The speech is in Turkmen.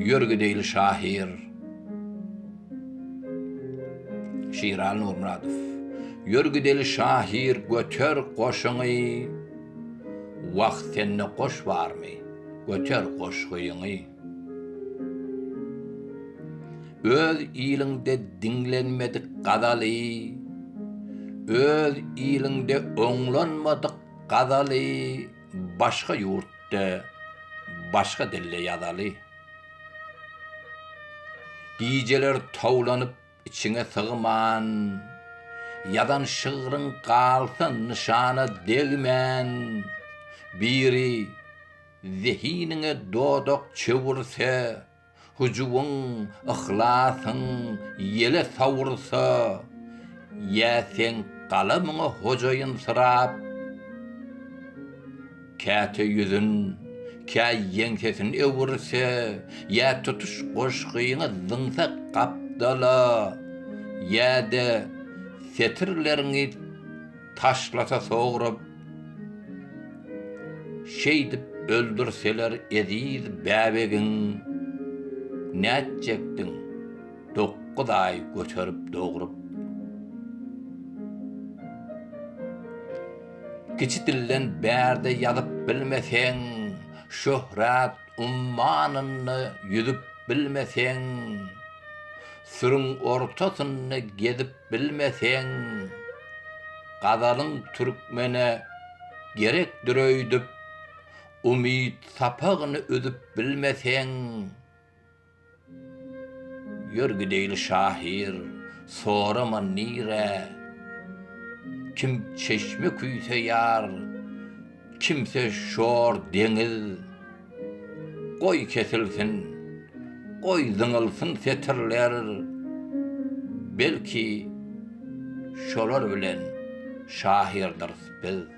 Ýör gideýli şahyr Şiran Nurmyradow. Ýör gideli şahyr göter goşuňy. Wah sende goş barmy? Göter goşgyňy. Öz iliňde diňlenmedik gazaly, Öz iliňde oňlanmadyk gazaly Başga ýurtda, başga dilde ýazaly. Gijeler towlanyp içiňe sygman, Ýazan şygryň galsa nyşana degmän, Biri, Zehiniňe dodak çöwürse, hyjuwyň, yhlasyň ýele sawursa, ýa seň galamyňa hojaýynsyrap, käte ýüzün, kä ýeňsesini öwürse, ýa tutuş goşgyňy zyňsa gapdala, ýa-da setirleriňi Taşlasa sograp, şeýdip öldürseler eziz bäbegiň, nätjekdiň, dokuz aý göterip dogrup. Kiçi dilden bärde ýazyp bilmeseň, şöhrat ummanynda ýüzüp bilmeseň, sürüň ortasynda gezip Bilmeseň, gazalyň türkmene gerekdir öýdüp, Umyt sapagyny üzüp bilmeseň, Ýör gideýli şahyr, sorama nirä, Kim çeşme küýseýär, Kimse şor deňiz, goý kesilsin, goý zyňylsyn setirler, belki, şolar bilen şahyrdyrys biz.